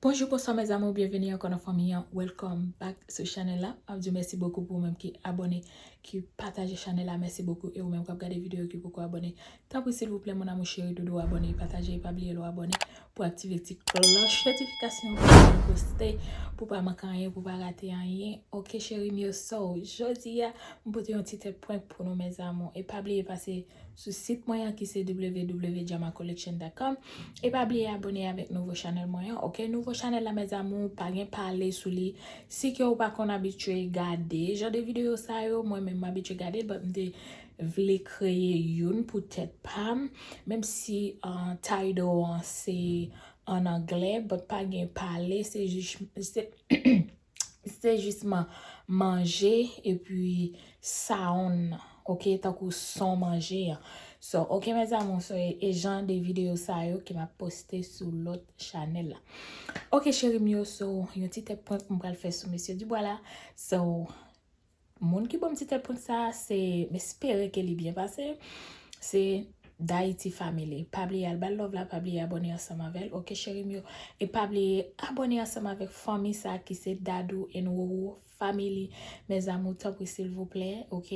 Bonjou bonswa mes amours byenveni ankò nan fanmi an welcome back sou chanèl la map diw mèsi bokou pou ou menm ki abòne ki pataje chanèl la mèsi bokou e ou menm kap gade video ki poko abòne tanpri silvouplè mon amour cheri doudou abòne e pataje e pa bliye lè w abòne pou aktive ti klòch notifikasyon pou lè mwen poste pou pa manke anyen pou pa rate anyen ok cherim yo so jodi a mwen pote yon ti tèt prank pou nou mes amours e pa bliye pase sou sit mwen an ki se www.jamacollection.com e pa bliye abone avèk nouvo chanèl mwen an ok nouvo chanèl la mes amours pa gen pale sou li si ke ou pa konn abitye gade jan de videyo sa yo mwen menm m abitye gade but m te vle kreye youn pou tèt pa m menm si title an se an anglè but pa gen pale se jis se jisman manje epi sound nan ok tankou son manje an so ok mes amour so e jan de video sa yo ke map poste sou lot chanel la ok cherim yo so yon ti tèt prank m pral fè sou mesye Dubois la so. Moun ki banm ti tèt prank sa se m espere ke li byen pase se D'haiti family pa bliye al bal love la pa bliye abòne ansanm avèl ok cheri m yo e pa bliye abòne ansanm avèk fanmi sa ki se Dadou and Roro family mes amour tanpri silvouplè ok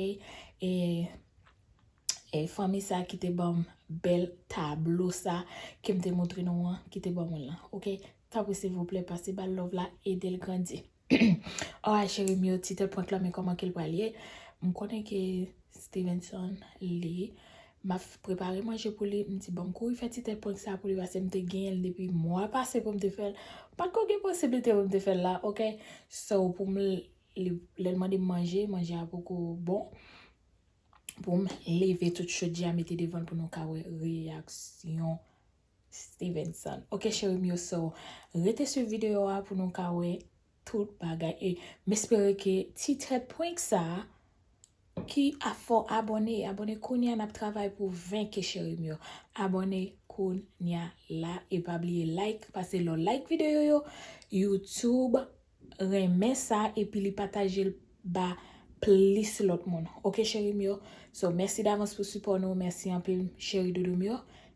e fanmi sa ki te banm bèl tablo sa ke m te montre nou an ki te banm l lan ok tanpri silvouplè pase bal love la edel grandi. Oa cheri m yo titre prank lan men koman kel pral ye m konnen ke Stevenson li map prepare manje pou li m di bon m kouri fè ti tèt prank sa pou li pase m te genyen l depi mwa pase pou m te fèl pat ko gen posiblite pou m te fèl la ok so pou m lèl mande m manje manje a poko bon pou m leve tout chodya mete devan l pou nou ka wè reyaksyon Stevenson ok cherim yo so rete swiv video a pou nou ka wè tout bagay e m espere ke ti tèt prank sa ki a fè w abone abone kounya nap travay pou 20 ke cherim yo abone kounya la e pa bliye like pase lè w like video yo youtube renmen sa epi li pataje l ba plis lòt moun ok cherim yo so mèsi davans pou sipò nou mèsi anpil cheri doudou m yo.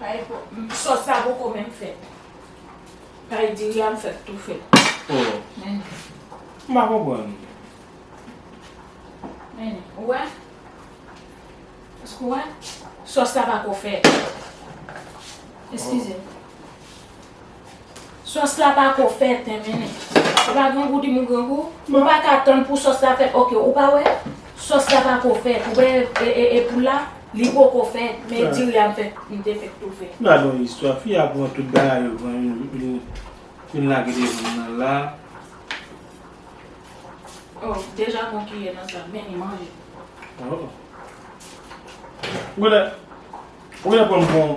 Pay sos sa poko menm fèt. Pay diri a m fèk tou fè l. Oh. Mennen. M pa konprann. Mennen. Ou wè? Èske ou wè? Sos la pako fèt. Eskize m. Sòs la pa ko fèt men menneh. Ou pa grangou di mou grangou. Ou pa ka tann pou sòs la fèt ok ou pa wè sòs la pa ko fèt ou wè e poul la li po ko fèt men diri a m fèt m te fèt toufe. Gad yon istwa fi a pran tout bagay yo pran vin lage devanm nan la. Oh deja pran kiyè nan sa men li manje. Oh. Ou genlè pranm pou yon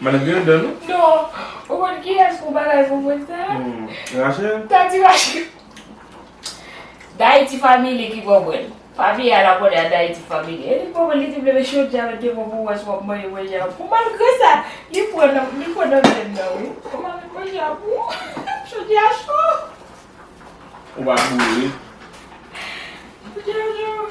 Madanm gen dan non. Non, ou konn kiyès pou bagay pou mwen sa? Rachel? Tati Rachel. Dayiti Family ki konprann. Papi a la konnen a Dayiti Family. E li pa konn li te vle met chodyè a met devan pou wè si w ap manje manje a pou. Malgre sa, li pran nan li pran nan venn nan wi. Ou pa met manje a pou ou? Chodyè a cho. Ou pa boule? Chodyè a cho.